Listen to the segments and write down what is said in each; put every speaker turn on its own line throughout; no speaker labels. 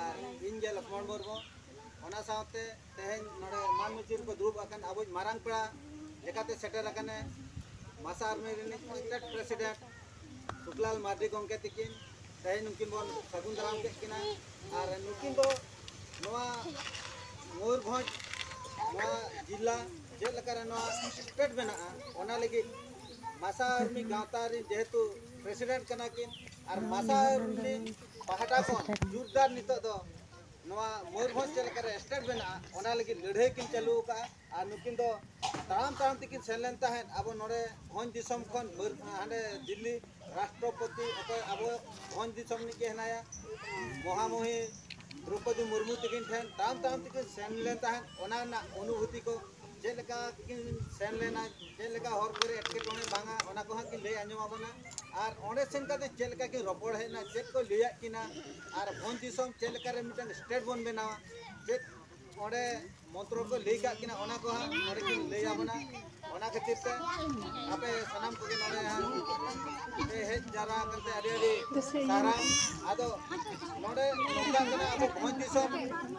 ᱟᱨ ᱤᱧ ᱜᱮ ᱞᱚᱠᱷᱢᱚᱬ ᱢᱩᱨᱢᱩ ᱚᱱᱟ ᱥᱟᱶᱛᱮ ᱛᱮᱦᱮᱧ ᱱᱚᱰᱮ ᱢᱟᱱ ᱢᱩᱪᱤ ᱨᱮᱠᱚ ᱫᱩᱲᱩᱵ ᱟᱠᱟᱱ ᱟᱵᱚᱭᱤᱡ ᱢᱟᱨᱟᱝ ᱯᱮᱲᱟ ᱞᱮᱠᱟᱛᱮ ᱥᱮᱴᱮᱨ ᱟᱠᱟᱱᱮ ᱢᱟᱥᱟ ᱟᱨᱢᱤ ᱨᱤᱱᱤᱡ ᱥᱴᱮᱴ ᱯᱨᱮᱥᱤᱰᱮᱱᱴ ᱥᱩᱠᱞᱟᱞ ᱢᱟᱨᱰᱤ ᱜᱚᱢᱠᱮ ᱛᱤᱠᱤᱱ ᱛᱮᱦᱮᱧ ᱱᱩᱠᱤᱱ ᱵᱚᱱ ᱥᱟᱹᱜᱩᱱ ᱫᱟᱨᱟᱢ ᱠᱮᱫ ᱠᱤᱱᱟ ᱟᱨ ᱱᱩᱠᱤᱱ ᱫᱚ ᱱᱚᱣᱟ ᱢᱚᱭᱩᱨᱵᱷᱚᱸᱡᱽ ᱱᱚᱣᱟ ᱡᱤᱞᱟ ᱪᱮᱫ ᱞᱮᱠᱟᱨᱮ ᱱᱚᱣᱟ ᱥᱴᱮᱴ ᱢᱮᱱᱟᱜᱼᱟ ᱚᱱᱟ ᱞᱟᱹᱜᱤᱫ ᱢᱟᱥᱟ ᱟᱨᱢᱤ ᱜᱟᱶᱛᱟ ᱨᱤᱱ ᱡᱮᱦᱮᱛᱩ ᱯᱨᱮᱥᱤᱰᱮᱱᱴ ᱠᱟᱱᱟ ᱠᱤᱱ ᱟᱨ ᱢᱟᱥᱟ ᱟᱨᱢᱤ ᱯᱟᱦᱴᱟ ᱠᱷᱚᱱ ᱡᱳᱨᱫᱟᱨ ᱱᱤᱛᱚᱜ ᱫᱚ ᱱᱚᱣᱟ ᱢᱚᱭᱩᱨᱵᱷᱚᱸᱡᱽ ᱪᱮᱫ ᱞᱮᱠᱟᱨᱮ ᱥᱴᱮᱴ ᱵᱮᱱᱟᱜᱼᱟ ᱚᱱᱟ ᱞᱟᱹᱜᱤᱫ ᱞᱟᱹᱲᱦᱟᱹᱭ ᱠᱤᱱ ᱪᱟᱹᱞᱩ ᱟᱠᱟᱫᱼᱟ ᱟᱨ ᱱᱩᱠᱤᱱ ᱫᱚ ᱛᱟᱲᱟᱢ ᱛᱟᱲᱟᱢ ᱛᱮᱠᱤᱱ ᱥᱮᱱ ᱞᱮᱱ ᱛᱟᱦᱮᱸᱫ ᱟᱵᱚ ᱱᱚᱰᱮ ᱵᱷᱚᱸᱡᱽ ᱫᱤᱥᱚᱢ ᱠᱷᱚᱱ ᱦᱟᱸᱰᱮ ᱫᱤᱞᱞᱤ ᱨᱟᱥᱴᱨᱚᱯᱚᱛᱤ ᱚᱠᱚᱭ ᱟᱵᱚ ᱵᱷᱚᱸᱡᱽ ᱫᱤᱥᱚᱢ ᱨᱤᱱᱤᱡ ᱜᱮ ᱦᱮᱱᱟᱭᱟ ᱢᱚᱦᱟᱢᱚᱦᱤ ᱫᱨᱳᱯᱚᱫᱤ ᱢᱩᱨᱢᱩ ᱛᱟᱹᱠᱤᱱ ᱴᱷᱮᱱ ᱛᱟᱲᱟᱢ ᱛᱟᱲᱟᱢ ᱛᱮᱠᱤᱱ ᱥᱮᱱ ᱞᱮᱱ ᱛᱟᱦᱮᱸᱫ ᱚᱱᱟ ᱨᱮᱱᱟᱜ ᱚᱱᱩᱵᱷᱩᱛᱤ ᱠᱚ ᱪᱮᱫ ᱞᱮᱠᱟ ᱠᱤᱱ ᱥᱮᱱ ᱞᱮᱱᱟ ᱪᱮᱫ ᱞᱮᱠᱟ ᱦᱚᱨ ᱠᱚᱨᱮ ᱮᱴᱠᱮᱴᱚᱬᱮ ᱵᱟᱝᱟ ᱚᱱᱟ ᱠᱚ ᱦᱟᱸᱜ ᱠᱤᱱ ᱞᱟᱹᱭ ᱟᱸᱡᱚᱢ ᱟᱵᱚᱱᱟ ᱟᱨ ᱚᱸᱰᱮ ᱥᱮᱱ ᱠᱟᱛᱮ ᱪᱮᱫ ᱞᱮᱠᱟ ᱠᱤᱱ ᱨᱚᱯᱚᱲ ᱦᱮᱡ ᱮᱱᱟ ᱪᱮᱫ ᱠᱚ ᱞᱟᱹᱭᱟᱫ ᱠᱤᱱᱟ ᱟᱨ ᱵᱷᱚᱱ ᱫᱤᱥᱚᱢ ᱪᱮᱫ ᱞᱮᱠᱟ ᱨᱮ ᱢᱤᱫᱴᱟᱝ ᱥᱴᱮᱴ ᱵᱚᱱ ᱵᱮᱱᱟᱣᱟ ᱪᱮᱫ ᱚᱸᱰᱮ ᱢᱚᱱᱛᱨᱚ ᱠᱚ ᱞᱟᱹᱭ ᱠᱟᱜ ᱠᱤᱱᱟ ᱚᱱᱟ ᱠᱚ ᱦᱟᱸᱜ ᱚᱸᱰᱮ ᱠᱤᱱ ᱞᱟᱹᱭ ᱟᱵᱚᱱᱟ ᱚᱱᱟ ᱠᱷᱟᱹᱛᱤᱨ ᱛᱮ ᱟᱯᱮ ᱥᱟᱱᱟᱢ ᱠᱚᱜᱮ ᱱᱚᱰᱮ ᱦᱟᱸᱜ ᱯᱮ ᱦᱮᱡ ᱡᱟᱣᱨᱟ ᱟᱠᱟᱱ ᱛᱮ ᱟᱹᱰᱤ ᱟᱹᱰᱤ ᱥᱟᱨᱦᱟᱣ ᱟᱫᱚ ᱱᱚᱰᱮ ᱱᱚᱝᱠᱟ ᱠᱟᱱᱟ ᱟᱵᱚ ᱵᱷᱚᱸᱡᱽ ᱫᱤᱥᱚᱢ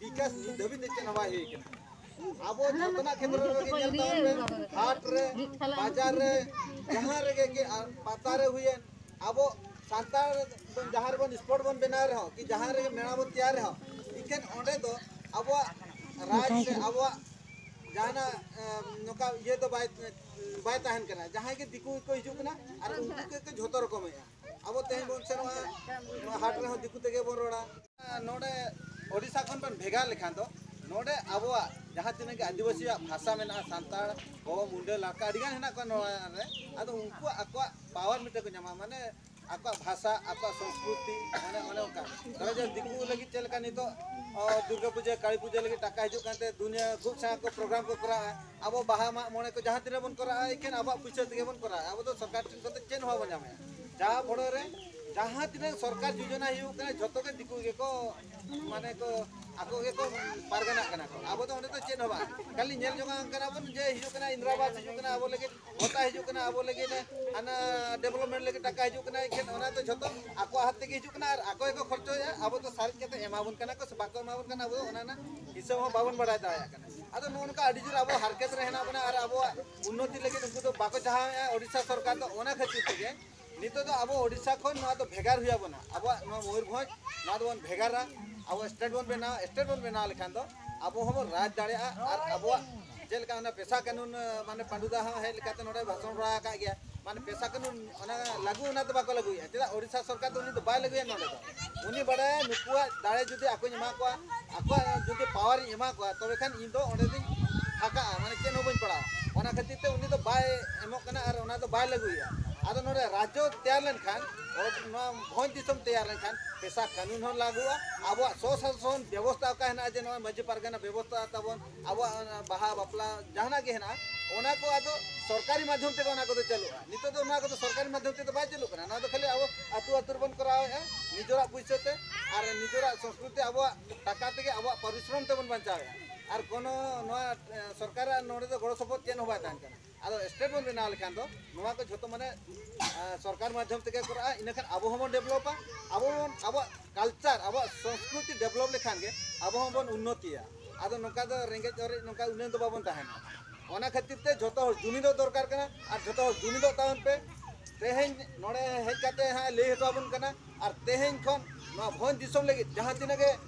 ᱵᱤᱠᱟᱥ ᱱᱤᱛ ᱫᱷᱟᱹᱵᱤᱡ ᱛᱮ ᱪᱮᱫ ᱦᱚᱸ ᱵᱟᱭ ᱦᱩᱭ ᱠᱟᱱᱟ ᱟᱵᱚ ᱡᱚᱛᱚᱱᱟᱜ ᱠᱷᱮᱛᱨᱮ ᱨᱮᱜᱮ ᱧᱮᱞ ᱛᱟᱵᱚᱱ ᱯᱮ ᱦᱟᱴ ᱨᱮ ᱵᱟᱡᱟᱨ ᱨᱮ ᱡᱟᱦᱟᱸ ᱨᱮᱜᱮ ᱜᱮ ᱯᱟᱛᱟ ᱨᱮ ᱦᱩᱭᱮᱱ ᱟᱵᱚ ᱥᱟᱱᱛᱟᱲ ᱵᱚᱱ ᱡᱟᱦᱟᱸ ᱨᱮᱵᱚᱱ ᱥᱯᱚᱴ ᱵᱚᱱ ᱵᱮᱱᱟᱣ ᱨᱮᱦᱚᱸ ᱠᱤ ᱡᱟᱦᱟᱸ ᱨᱮᱜᱮ ᱢᱮᱞᱟ ᱵᱚᱱ ᱛᱮᱭᱟᱨ ᱨᱮᱦᱚᱸ ᱤᱠᱷᱟᱹᱱ ᱚᱸᱰᱮ ᱫᱚ ᱟᱵᱚᱣᱟᱜ ᱨᱟᱡᱽ ᱥᱮ ᱟᱵᱚᱣᱟᱜ ᱡᱟᱦᱟᱱᱟᱜ ᱱᱚᱝᱠᱟ ᱤᱭᱟᱹ ᱫᱚ ᱵᱟᱭ ᱵᱟᱭ ᱛᱟᱦᱮᱱ ᱠᱟᱱᱟ ᱡᱟᱦᱟᱸᱭ ᱜᱮ ᱫᱤᱠᱩ ᱜᱮᱠᱚ ᱦᱤᱡᱩᱜ ᱠᱟᱱᱟ ᱟᱨ ᱩᱱᱠᱩ ᱜᱮᱠᱚ ᱡᱷᱚᱛᱚ ᱨᱚᱠᱚᱢᱮᱜᱼᱟ ᱟᱵᱚ ᱛᱮᱦᱮᱧ ᱵᱚᱱ ᱥᱮᱱᱚᱜᱼᱟ ᱱᱚᱣᱟ ᱦᱟᱴ ᱨᱮᱦᱚᱸ ᱫᱤᱠᱩ ᱛᱮᱜᱮ ᱵᱚᱱ ᱨᱚᱲᱟ ᱱᱚᱰᱮ ᱳᱰᱤᱥᱟ ᱠᱷᱚᱱ ᱵᱚᱱ ᱵᱷᱮᱜᱟᱨ ᱞᱮᱠᱷᱟᱱ ᱫᱚ ᱱᱚᱰᱮ ᱟᱵᱚᱣᱟᱜ ᱡᱟᱦᱟᱸ ᱛᱤᱱᱟᱹᱜ ᱜᱮ ᱟᱹᱫᱤᱵᱟᱹᱥᱤᱭᱟᱜ ᱵᱷᱟᱥᱟ ᱢᱮᱱᱟᱜᱼᱟ ᱥᱟᱱᱛᱟᱲ ᱠᱚ ᱢᱩᱰᱟᱹ ᱞᱟᱲᱠᱟ ᱟᱹᱰᱤ ᱜᱟᱱ ᱦᱮᱱᱟᱜ ᱠᱚᱣᱟ ᱱᱚᱣᱟ ᱨᱮ ᱟᱫᱚ ᱩᱱᱠᱩᱣᱟᱜ ᱟᱠᱚᱣᱟᱜ ᱯᱟᱣᱟᱨ ᱢᱤᱫᱴᱮᱱ ᱠᱚ ᱧᱟᱢᱟ ᱢᱟᱱᱮ ᱟᱠᱚᱣᱟᱜ ᱵᱷᱟᱥᱟ ᱟᱠᱚᱣᱟᱜ ᱥᱚᱝᱥᱠᱨᱤᱛᱤ ᱢᱟᱱᱮ ᱚᱱᱮ ᱚᱱᱠᱟ ᱛᱚᱵᱮ ᱡᱮ ᱫᱤᱠᱩ ᱞᱟᱹᱜᱤᱫ ᱪᱮᱫ ᱞᱮᱠᱟ ᱱᱤᱛᱚᱜ ᱫᱩᱨᱜᱟᱹ ᱯᱩᱡᱟᱹ ᱠᱟᱹᱞᱤ ᱯᱩᱡᱟᱹ ᱞᱟᱹᱜᱤᱫ ᱴᱟᱠᱟ ᱦᱤᱡᱩᱜ ᱠᱟᱱᱛᱮ ᱫᱩᱱᱤᱭᱟᱹ ᱠᱷᱩᱵ ᱥᱟᱸᱜᱮ ᱠᱚ ᱯᱨᱳᱜᱨᱟᱢ ᱠᱚ ᱠᱚᱨᱟᱣᱟ ᱟᱵᱚ ᱵᱟᱦᱟ ᱢᱟᱜ ᱢᱚᱬᱮ ᱠᱚ ᱡᱟᱦᱟᱸ ᱛᱤᱱᱟᱹᱜ ᱵᱚᱱ ᱠᱚᱨᱟᱣᱟ ᱮᱠᱷᱮᱱ ᱟᱵᱚᱣᱟᱜ ᱯᱩᱭᱥᱟᱹ ᱛᱮᱜᱮ ᱵᱚᱱ ᱠᱚᱨᱟᱣᱟ ᱟᱵᱚ ᱫᱚ ᱥᱚᱨᱠᱟᱨ ᱴᱷᱮᱱ ᱠᱷᱚᱱ ᱫᱚ ᱪᱮᱫ ᱦᱚᱸ ᱵᱟᱵᱚᱱ ᱧᱟᱢᱮᱜᱼᱟ ᱡᱟᱦᱟᱸ ᱵᱚᱲᱚ ᱨᱮ ᱡᱟᱦᱟᱸ ᱛᱤᱱᱟᱹᱜ ᱥᱚᱨᱠᱟᱨ ᱡᱳᱡᱚᱱᱟ ᱦᱩᱭᱩᱜ ᱠᱟᱱᱟ ᱡᱷᱚᱛᱚ ᱜᱮ ᱫᱤᱠᱩ ᱜᱮᱠᱚ ᱢᱟᱱᱮ ᱠᱚ ᱟᱠᱚ ᱜᱮᱠᱚ ᱯᱟᱨᱜᱟᱱᱟᱜ ᱠᱟᱱᱟ ᱠᱚ ᱟᱵᱚ ᱫᱚ ᱚᱸᱰᱮ ᱫᱚ ᱪᱮᱫ ᱦᱚᱸ ᱵᱟᱝ ᱠᱷᱟᱹᱞᱤ ᱧᱮᱞ ᱡᱚᱝᱟᱜ ᱠᱟᱱᱟ ᱵᱚᱱ ᱡᱮ ᱦᱤᱡᱩᱜ ᱠᱟᱱᱟ ᱤᱱᱫᱨᱟᱵᱟᱥ ᱦᱤᱡᱩᱜ ᱠᱟᱱᱟ ᱟᱵᱚ ᱞᱟᱹᱜᱤᱫ ᱵᱷᱚᱛᱟ ᱦᱤᱡᱩᱜ ᱠᱟᱱᱟ ᱟᱵᱚ ᱞᱟᱹᱜᱤᱫ ᱦᱟᱱᱟ ᱰᱮᱵᱷᱞᱚᱯᱢᱮᱱᱴ ᱞᱟᱹᱜᱤᱫ ᱴᱟᱠᱟ ᱦᱤᱡᱩᱜ ᱠᱟᱱᱟ ᱮᱠᱷᱮᱱ ᱚᱱᱟ ᱫᱚ ᱡᱷᱚᱛᱚ ᱟᱠᱚᱣᱟᱜ ᱦᱟᱛ ᱛᱮᱜᱮ ᱦᱤᱡᱩᱜ ᱠᱟᱱᱟ ᱟᱨ ᱟᱠᱚ ᱜᱮᱠᱚ ᱠᱷᱚᱨᱪᱚᱭᱮᱫᱼᱟ ᱟᱵᱚ ᱫᱚ ᱥᱟᱨᱮᱡ ᱠᱟᱛᱮ ᱮᱢᱟᱵᱚᱱ ᱠᱟᱱᱟ ᱠᱚ ᱥᱮ ᱵᱟᱠᱚ ᱮᱢᱟᱵᱚᱱ ᱠᱟᱱᱟ ᱟᱵᱚ ᱫᱚ ᱚᱱᱟ ᱨᱮᱱᱟᱜ ᱦᱤᱥᱟᱹᱵ ᱦᱚᱸ ᱵᱟᱵᱚᱱ ᱵᱟᱲᱟᱭ ᱫᱟᱲᱮᱭᱟᱜ ᱠᱟᱱᱟ ᱟᱫᱚ ᱱᱚᱜᱼᱚ ᱱᱚᱝᱠᱟ ᱟᱹᱰᱤ ᱡᱳᱨ ᱟᱵᱚ ᱦᱟᱨᱠᱮᱛ ᱨᱮ ᱦᱮᱱᱟᱜ ᱵᱚᱱᱟ ᱟᱨ ᱟᱵᱚᱣᱟᱜ ᱩᱱᱱᱚᱛᱤ ᱞᱟᱹᱜᱤᱫ ᱩᱱᱠᱩ ᱫᱚ ᱵᱟᱠᱚ ᱪᱟᱦᱟᱣᱮᱫᱼᱟ ᱳᱰᱤᱥᱟ ᱥᱚᱨᱠᱟᱨ ᱫᱚ ᱚᱱᱟ ᱠᱷᱟᱹᱛᱤᱨ ᱛᱮᱜᱮ ᱱᱤᱛᱚᱜ ᱫᱚ ᱟᱵᱚ ᱳᱰᱤᱥᱟ ᱠᱷᱚᱱ ᱱᱚᱣᱟ ᱫᱚ ᱵᱷᱮᱜᱟᱨ ᱦᱩᱭ ᱟᱵᱚᱱᱟ ᱟᱵᱚᱣᱟᱜ ᱱᱚᱣᱟ ᱢᱚᱭᱩᱨᱵᱷᱚᱸᱡᱽ ᱱᱚᱣᱟ ᱫᱚᱵᱚᱱ ᱵᱷᱮᱜᱟᱨᱟ ᱟᱵᱚ ᱥᱴᱮᱴ ᱵᱚᱱ ᱵᱮᱱᱟᱣᱟ ᱥᱴᱮᱴ ᱵᱚᱱ ᱵᱮᱱᱟᱣ ᱞᱮᱠᱷᱟᱱ ᱫᱚ ᱟᱵᱚ ᱦᱚᱸᱵᱚᱱ ᱨᱟᱡᱽ ᱫᱟᱲᱮᱭᱟᱜᱼᱟ ᱟᱨ ᱟᱵᱚᱣᱟᱜ ᱪᱮᱫ ᱞᱮᱠᱟ ᱚᱱᱟ ᱯᱮᱥᱟ ᱠᱟᱹᱱᱩᱱ ᱢᱟᱱᱮ ᱯᱟᱺᱰᱩ ᱫᱟ ᱦᱚᱸ ᱦᱮᱡ ᱞᱮᱠᱟᱛᱮ ᱱᱚᱰᱮ ᱵᱷᱟᱥᱚᱱ ᱵᱟᱲᱟ ᱟᱠᱟᱫ ᱜᱮᱭᱟ ᱢᱟᱱᱮ ᱯᱮᱥᱟ ᱠᱟᱹᱱᱩᱱ ᱚᱱᱟ ᱞᱟᱹᱜᱩ ᱚᱱᱟ ᱫᱚ ᱵᱟᱠᱚ ᱞᱟᱹᱜᱩᱭᱮᱫᱼᱟ ᱪᱮᱫᱟᱜ ᱳᱰᱤᱥᱟ ᱥᱚᱨᱠᱟᱨ ᱫᱚ ᱩᱱᱤ ᱫᱚ ᱵᱟᱭ ᱞᱟᱹᱜᱩᱭᱟ ᱱᱚᱰᱮ ᱫᱚ ᱩᱱᱤ ᱵᱟᱲᱟᱭᱟ ᱱᱩᱠᱩᱣᱟᱜ ᱫᱟᱲᱮ ᱡᱩᱫᱤ ᱟᱠᱚᱧ ᱮᱢᱟ ᱠᱚᱣᱟ ᱟᱠᱚᱣᱟᱜ ᱡᱩᱫᱤ ᱯᱟᱣᱟᱨᱤᱧ ᱮᱢᱟ ᱠᱚᱣᱟ ᱛᱚᱵᱮ ᱠᱷᱟᱱ ᱤᱧ ᱫᱚ ᱚᱸᱰᱮ ᱫᱚᱧ ᱯᱷᱟᱸᱠᱟᱜᱼᱟ ᱢᱟᱱᱮ ᱪᱮᱫ ᱦᱚᱸ ᱵᱟᱹᱧ ᱯᱟᱲᱟᱜᱼᱟ ᱚᱱᱟ ᱠᱷᱟᱹᱛᱤᱨ ᱛᱮ ᱩᱱᱤ ᱫᱚ ᱵᱟᱭ ᱮᱢᱚᱜ ᱠᱟᱱᱟ ᱟᱨ ᱚᱱᱟ ᱫᱚ ᱵᱟᱭ ᱞᱟᱹᱜᱩᱭᱮᱫᱼᱟ ᱟᱫᱚ ᱱᱚᱰᱮ ᱨᱟᱡᱽᱡᱚ ᱛᱮᱭᱟᱨ ᱞᱮᱱᱠᱷᱟᱱ ᱱᱚᱣᱟ ᱵᱷᱚᱸᱡᱽ ᱫᱤᱥᱚᱢ ᱛᱮᱭᱟᱨ ᱞᱮᱱᱠᱷᱟᱱ ᱯᱮᱥᱟ ᱠᱟᱹᱱᱩᱱ ᱦᱚᱸ ᱞᱟᱹᱜᱩᱜᱼᱟ ᱟᱵᱚᱣᱟᱜ ᱥᱚᱥᱟᱥᱚᱱ ᱵᱮᱵᱚᱥᱛᱟ ᱚᱠᱟ ᱦᱮᱱᱟᱜᱼᱟ ᱡᱮ ᱱᱚᱜᱼᱚᱭ ᱢᱟᱺᱡᱷᱤ ᱯᱟᱨᱜᱟᱱᱟ ᱵᱮᱵᱚᱥᱛᱟ ᱛᱟᱵᱚᱱ ᱟᱵᱚᱣᱟᱜ ᱵᱟᱦᱟ ᱵᱟᱯᱞᱟ ᱡᱟᱦᱟᱱᱟᱜ ᱜᱮ ᱦᱮᱱᱟᱜᱼᱟ ᱚᱱᱟ ᱠᱚ ᱟᱫᱚ ᱥᱚᱨᱠᱟᱨᱤ ᱢᱟᱫᱽᱫᱷᱚᱢ ᱛᱮᱜᱮ ᱚᱱᱟ ᱠᱚᱫᱚ ᱪᱟᱹᱞᱩᱜᱼᱟ ᱱᱤᱛᱚᱜ ᱫᱚ ᱱᱚᱣᱟ ᱠᱚᱫᱚ ᱥᱚᱨᱠᱟᱨᱤ ᱢᱟᱫᱽᱫᱷᱚᱢ ᱛᱮᱫᱚ ᱵᱟᱭ ᱪᱟᱹᱞᱩᱜ ᱠᱟᱱᱟ ᱱᱚᱣᱟ ᱫᱚ ᱠᱷᱟᱹᱞᱤ ᱟᱵᱚ ᱟᱹᱛᱩ ᱟᱹᱛᱩ ᱨᱮᱵᱚᱱ ᱠᱚᱨᱟᱣᱮᱫᱼᱟ ᱱᱤᱡᱚᱨᱟᱜ ᱯᱩᱭᱥᱟᱹ ᱛᱮ ᱟᱨ ᱱᱤᱡᱚᱨᱟᱜ ᱥᱚᱝᱥᱠᱨᱤᱛᱤ ᱟᱵᱚᱣᱟᱜ ᱴᱟᱠᱟ ᱛᱮᱜᱮ ᱟᱵᱚᱣᱟᱜ ᱯᱚᱨᱤᱥᱨᱚᱢ ᱛᱮᱵᱚᱱ ᱵᱟᱧᱪᱟᱣᱮᱫᱼᱟ ᱟᱨ ᱠᱳᱱᱳ ᱱᱚᱣᱟ ᱥᱚᱨᱠᱟᱨᱟᱜ ᱱᱚᱰᱮ ᱫᱚ ᱜᱚᱲᱚ ᱥᱚᱯᱚᱦᱚᱫ ᱪᱮᱫ ᱦᱚᱸ ᱵᱟᱭ ᱛᱟᱦᱮᱱ ᱠᱟᱱᱟ ᱟᱫᱚ ᱥᱴᱮᱴ ᱵᱚᱱ ᱵᱮᱱᱟᱣ ᱞᱮᱠᱷᱟᱱ ᱫᱚ ᱱᱚᱣᱟ ᱠᱚ ᱡᱷᱚᱛᱚ ᱢᱟᱱᱮ ᱥᱚᱨᱠᱟᱨ ᱢᱟᱫᱽᱫᱷᱚᱢ ᱛᱮᱜᱮ ᱠᱚᱨᱟᱜᱼᱟ ᱤᱱᱟᱹᱠᱷᱟᱱ ᱟᱵᱚ ᱦᱚᱸᱵᱚᱱ ᱰᱮᱵᱷᱞᱚᱯᱟ ᱟᱵᱚ ᱵᱚᱱ ᱟᱵᱚᱣᱟᱜ ᱠᱟᱞᱪᱟᱨ ᱟᱵᱚᱣᱟᱜ ᱥᱚᱝᱥᱠᱨᱤᱛᱤ ᱰᱮᱵᱷᱞᱚᱯ ᱞᱮᱠᱷᱟᱱ ᱜᱮ ᱟᱵᱚ ᱦᱚᱸᱵᱚᱱ ᱩᱱᱱᱚᱛᱤᱭᱟ ᱟᱫᱚ ᱱᱚᱝᱠᱟ ᱫᱚ ᱨᱮᱸᱜᱮᱡ ᱚᱨᱮᱡ ᱱᱚᱝᱠᱟ ᱩᱱᱟᱹᱝ ᱫᱚ ᱵᱟᱵᱚᱱ ᱛᱟᱦᱮᱱᱟ ᱚᱱᱟ ᱠᱷᱟᱹᱛᱤᱨ ᱛᱮ ᱡᱷᱚᱛᱚ ᱦᱚᱲ ᱡᱩᱢᱤᱫᱚᱜ ᱫᱚᱨᱠᱟᱨ ᱠᱟᱱᱟ ᱟᱨ ᱡᱷᱚᱛᱚ ᱦᱚᱲ ᱡᱩᱢᱤᱫᱚᱜ ᱛᱟᱵᱚᱱ ᱯᱮ ᱛᱮᱦᱮᱧ ᱱᱚᱰᱮ ᱦᱮᱡ ᱠᱟᱛᱮ ᱦᱟᱸᱜ ᱞᱟᱹᱭ ᱦᱚᱴᱚ ᱟᱵᱚᱱ ᱠᱟᱱᱟ ᱟᱨ ᱛᱮᱦᱮᱧ ᱠᱷᱚᱱ ᱱᱚᱣᱟ ᱵᱷᱚᱸᱡᱽ ᱫᱤᱥᱚᱢ ᱞᱟᱹᱜᱤᱫ ᱡᱟᱦᱟᱸ ᱛᱤᱱᱟᱹᱜ ᱜᱮ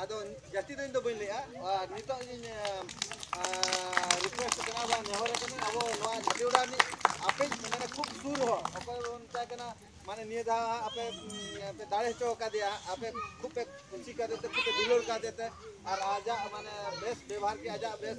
ᱟᱫᱚ ᱡᱟᱹᱥᱛᱤ ᱫᱚ ᱤᱧ ᱫᱚ ᱵᱟᱹᱧ ᱞᱟᱹᱭᱟ ᱟᱨ ᱱᱤᱛᱚᱜ ᱤᱧ ᱨᱤᱠᱩᱭᱮᱥᱴ ᱠᱟᱱᱟ ᱵᱟ ᱱᱮᱦᱚᱨ ᱠᱟᱱᱟ ᱟᱵᱚ ᱱᱚᱣᱟ ᱡᱷᱟᱹᱴᱤᱭᱟᱹᱲᱟ ᱨᱤᱱᱤᱡ ᱟᱯᱮ ᱢᱟᱱᱮ ᱠᱷᱩᱵ ᱥᱩᱨ ᱦᱚᱲ ᱚᱠᱚᱭ ᱵᱚᱱ ᱢᱮᱛᱟᱭ ᱠᱟᱱᱟ ᱢᱟᱱᱮ ᱱᱤᱭᱟᱹ ᱫᱷᱟᱣ ᱟᱯᱮ ᱯᱮ ᱫᱟᱲᱮ ᱦᱚᱪᱚ ᱟᱠᱟᱫᱮᱭᱟ ᱟᱯᱮ ᱠᱷᱩᱵ ᱯᱮ ᱠᱩᱥᱤ ᱠᱟᱫᱮ ᱛᱮ ᱠᱷᱩᱵ ᱯᱮ ᱫᱩᱞᱟᱹᱲ ᱠᱟᱫᱮ ᱛᱮ ᱟᱨ ᱟᱡᱟᱜ ᱢᱟᱱᱮ ᱵᱮᱥ ᱵᱮᱵᱷᱟᱨ ᱜᱮ ᱟᱡᱟᱜ ᱵᱮᱥ